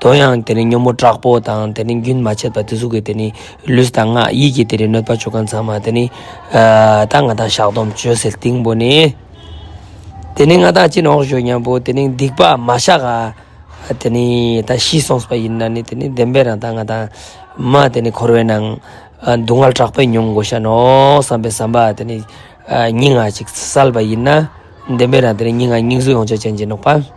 དོན་ཡང་དེ་ནི་ཉོན་མོངས་དྲག་པོ་དང་དེ་ནི་རྒྱུན་མ་ཆད་པ་དེ་གཟུགས་ཀྱི་དེ་ནི་ལུས་དང་ངག་ཡིད་ཀྱི་དེ་ནི་གནོད་པ་བཅུ་གང་ཚང་མ་དེ་ནི་ད་ང་དང་བཤགས་སྡོམ་བཅོལ་ཟེར་སྟེང་པོ་ནི། དེ་ནི་ང་དང་ཅི་ནོག་ཞོ་སྙམ་པོ་དེ་ནི་སྡིག་པ་མ་བཤགས་ཨ། དེ་ནི་ད་ཤི་སོང་བ་ཡིན་ན་ནི་དེ་ནི་བདེན་པའི་རང་ད་ང་དང་མ་དེ་ནི་འཁོར་བའི་ནང་སྡུག་བསྔལ་དྲག་པོས་མྱོང་དགོས་ཤ་ནོག་བསམ་པའི་བསམ་པ་དེ་ནི་སྙིང་ཨ་ཅིག་བསལ་བ་ཡིན་ན་བདེན་པའི་རང་དེ་ནི་སྙིང་ཨ་སྙིང་གཟུགས་ཡོངས་ཆགས་ཅན་གྱི་ནོག་པ།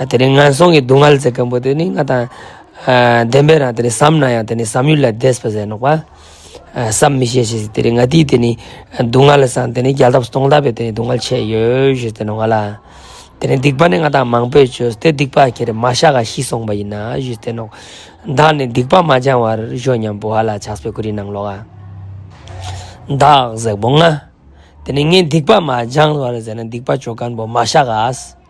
དེ་ནས་ངན་སོང་གི་སྡུག་བསྔལ་ཚེ་གང་པོ་དེ་ནི་ང་དང་ལྡན་པས་ན་དེ་ནི་བསམ་ན་ཡང་དེ་ནི་བསམ་ཡུལ་ལས་འདས་པ་ཟད་ནོག་པ། བསམ་མི་ཤེས་ཤིང་དེ་རིང་ང་དེའི་དེ་ནི་སྡུག་བསྔལ་ལ་སང་དེ་ནི་རྒྱལ་ཐབས་སུ་སྟོང་དག་པས་དེ་ནི་སྡུག་བསྔལ་ཆེ་ཡོད་ཞེས་དེ་ནི་བ་ལ། དེ་ནི་སྡིག་པ་ནི་ང་དང་མང་པོས་བྱོས་སྟེ་སྡིག་པ་ཁྱེར་མ་ཤ་ག་ཤི་སོང་བ་ཡིན་ན་ཞེས་དེ་ནོག། བདག་ནི་སྡིག་པ་མ་སྦྱང་བར་བྱོས་སྙམ་པོ་བ་ལ་ཕྱག་སྤེལ་ཀུ་རིའི་ནང་ལོགས། བདག་གཟེགས་པོ་ང། དེ་ནི་ངས་སྡིག་པ་མ་སྦྱང་བར་ཟད་ན་སྡིག་པ་བྱོས་སྐམ་པོ་མ་ཤ་ག།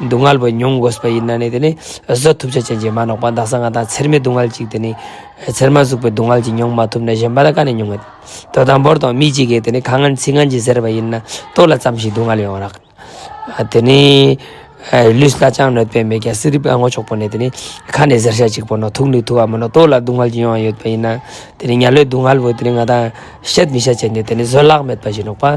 སྡུག་བསྔལ་བས་མྱོང་དགོས་པ་ཡིན་ན་ནི་དེ་ནི་བཟོད་ཐུབ་བྱ་བྱེད་ཀྱི་མ་ནོག་པ་འདག་ས་ང་དང་ཚེར་མའི་སྡུག་བསྔལ་གཅིག་དེ་ནི། ཚེར་མ་ཟུག་པའི་སྡུག་བསྔལ་གྱིས་མྱོང་མ་ཐུབ་ན་གཞན་པ་ལ་ག་ནས་མྱོང་ངེས། དོ་དང་པོར་དང་མི་གཅིག་གིས་དེ་ནི་ཁ་ངན་ཚིག་ངན་གྱིས་ཟེར་བ་ཡིན་ན་སྟོད་ལ་བརྩམས་ཤིང་སྡུག་བསྔལ་ཡོང་རག། དེ་ནི། ལུས་སྣ་ཅང་གནོད་པས་མེད་ཀྱང་སྲིད་རིབ་ཨ་སྔོ་ཆོག་པོ་ནས་དེ་ནི་ཁ་ནས་ཟེར་བྱ་གཅིག་པོ་ནོ་ཐུག་ནི་ཐུག་བ་མིན་ནོ་སྟོད་ལ་སྡུག་བསྔལ་གྱིས་མྱོང་བ་ཡོད་པ་ཡིན་ན། དེ་ནི་གཉའ་ལོའི་སྡུག་བསྔལ་བས་དེ་ནི་ང་དང་བཤད་མི་བྱ་བྱེད་ནི་དེ་ནི་བཟོད་གླགས་མེད་པ་བཞིན་ནོག་པ།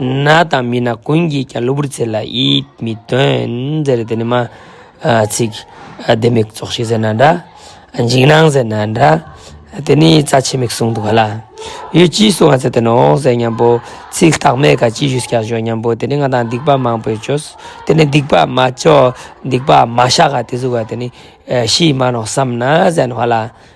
ན་དང་མི་ན་ཀུན་གྱིས་ཀྱང་གློ་བུར་ཚེ་ལ་ཡིད་མི་རྟོན། ཟེར་རེ་དེ་ནི་མ། ཚིག། ལྡེ་མིག་ཙོག་ཤི་ཟེར་ན་འདྲ། འཇིགས་སྣང་ཟེར་ན་འདྲ། དེ་ནི་རྩ་ཆེ་མིག་ཟུང་དུ་ག་ལ། ཡོད་ཅེས་གསུང་བ་ཚེ་དེ་ནི་འོང་ཟེར་སྙམ་པོ། ཚིག་རྟགས་མེད་ཀ་ཅིས་ཞུས་སྐྱར་ཞོག་སྙམ་པོ་དེ་ནི་ང་དང་སྡིག་པ་མང་པོས་བཅོས། དེ་ནི་སྡིག་པ་མ་བཅོས་སྡིག་པ་མ་བཤགས་ཀ་དེ་གཟུགས་ཀ་དེ་ནི། ཤི་མ་ནོག་བསམ་ན་ཟན་བྷ་ལ།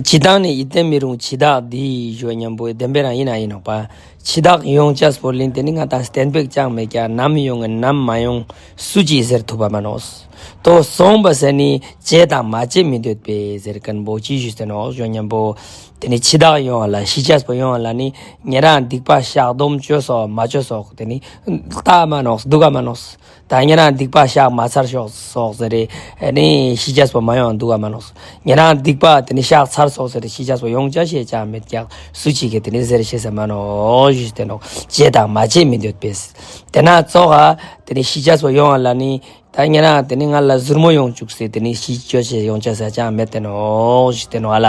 ཇི་ལྟར་ནི་ཡིད་བརྟན་མི་རུང་འཆི་བདག་འདི་ཞོ་སྙམ་པོའི་བདེན་པའི་རང་ཡིན་ན་ཡིན་ནོ། པ་འཆི་བདག་ཡོངས་བཅས་སུ་བོར་གླིང་དེ་ནི་ང་དང་གཏན་འབེབས་ཅང་མེད་ཀྱང་ནམ་ཡོང་ངེ་ནམ་མ་ཡོང་སུ་ཅིས་ཟེར་ཐུབ་པ་མིན་ནོ། དོ་གསུངས་པ་ཟེར་ནི་བྱེད་དང་མ་བྱེད་མི་འདོད་པས་ཟེར་ཀུན་པོ་ཅི་ཞུས་ཟེར་ནོ་ཞོ་སྙམ་པོ། དེ་ནི་འཆི་བདག་ཡོང་བ་ལ་ཤི་བཅས་སུ་ཡོང་བ་ལ་ནི་ཉེ་རང་སྡིག་པ་བཤགས་སྡོམ་གཅོད་སོགས་མ་བྱོས་སོགས་དེ་ནི་བདག་མ་ནོ་སྡུག་བ་མ་ནོ། ད་ངེད་རང་སྡིག་པ་བཤགས་མ་ཚར་ཤོག་སོགས་ཟེར་རེ་ནི་ཤི་ཆ་སོ་མ་ཡོང་འདུག་ག་མ་ལོགས་སོ་ངེད་རང་སྡིག་པ་དེ་ནི་བཤགས་ཚར་སོགས་ཟེར་རེ་ཤི་ཆ་སོ་ཡོང་བྱ་ཤེས་ཀྱང་མེད་ཀྱང་སུ་བྱེད་ཀྱི་དེ་ནི་ཟེར་ཤེས་ཟེར་མ་ནོར་ཞེས་བསྟན་ནོ། བྱེད་དང་མ་བྱེད་མི་འདོད་པས། དེ་ན་གཙོ་ཧ། དེ་ནི་ཤི་ཆ་སོ་ཡོང་བ་ལ་ནི། ད་ངེད་རང་དེ་ནི་ང་ལ་གཟུར་མོ་ཡོང་བཅུག་ཟེར་དེ་ནི་ཤི་ཆ་སོ་ཡོང་བྱ་ཟེར་ཀྱང་མེད་བསྟན་ནོ། ཞེས་བསྟན་ནོ་ཨ་ལ།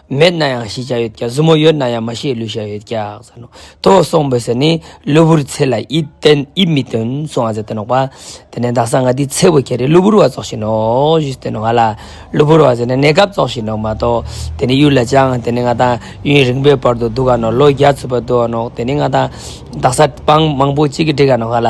མེད་ན་ཡང་ཤེས་བྱ་ཡོད་ཀྱང་གཟུ་མོ་ཡོད་ན་ཡང་མ་ཤེས་ལུས་བྱ་ཡོད་ཀྱང་ཟེར་ནོ། དོ་གསུངས་པའི་ཟེར་ནི་གློ་བུར་ཚེ་ལ་ཡིད་མི་རྟོན་གསུང་བ་ཟེར་ཏེ་ནོག་པ། དེ་ནས་བདག་སང་ང་འདི་ཚེ་བོ་ཁྱེད་རེ་གློ་བུར་བ་རྫོགས་བཞིན་ནོ་ཞེས་ཟེར་ཏེ་ནོ་ང་ལ་གློ་བུར་བ་ཟེར་ནི་གནས་སྐབས་རྫོགས་བཞིན་ནོ་མ་གཏོགས་དེ་ནི་གཡུལ་ལ་བཅངས་དེ་ནི་ང་དང་གཡུལ་རིང་པོའི་བར་དུ་འདུག་ག་ནོ་ལོ་བརྒྱ་ཚུད་པར་འདུག་ག་ནོག་དེ་ནི་ང་དང་བདག་ས་སྤང་མང་པོ་གཅིག་གིས་འདྲེས་ག་ནོག་ང་ལ།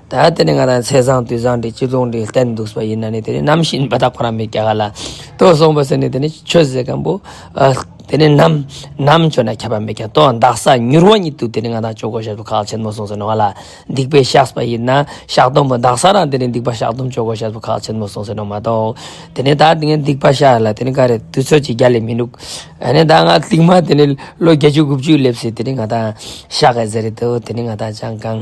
ད་དེ་ནི་ང་རང་ཚེ་བཟང་དུས་བཟང་གི་སྤྱི་ལུགས་འདི་བསྟན་འདུག་པ་ཡིན་ན་ནི་དེ་ནི་ནམ་ཞིག་འབད་ཐག་ཁོ་ན་མི་བསྐྱལ་ག་ལ་ལྟོས་སོང་བ་ཟེར་ནས་དེ་ནི་ཆོས་ཟེར་མཁན་པོ་དེ་ནི་ནམ་ནམ་ཁྱོད་ན་ཁྱབ་པ་མི་བསྐྱལ་ལྟོས་འདག་ས་མྱུར་བ་ཉིད་དུ་དེ་ནི་ང་དང་ཅོག་གོ་ཞབས་སུ་ཁག་ཆེན་མོ་སོང་ཟེར་ནོ་ང་ལ་སྡིག་པའི་ཤགས་པ་ཡིན་ན་ཤགས་དུམ་བུ་འདག་ས་རང་དེ་ནི་སྡིག་པ་ཤགས་དུམ་ཅོག་གོ་ཞབས་སུ་ཁག་ཆེན་མོ་སོང་ཟེར་ནོ་མ་གཏོགས་དེ་ནི་ད་ངས་སྡིག་པ་ཤགས་ལ་དེ་ནི་ག་རེ་དུས་ཚོད་ཀྱི་རྒྱ་ལས་མི་འདུག་ཨ་ནི་ད་ང་སྡིག་མ་དེ་ནི་ལོ་བརྒྱད་ཅུ་དགུ་བཅུའི་སླེབས་སྲིད་དེ་ནི་ང་དང་ཤགས་ག་ཟེར་རེད་དོ་དེ་ནི་ང་དང་ཅང་གང།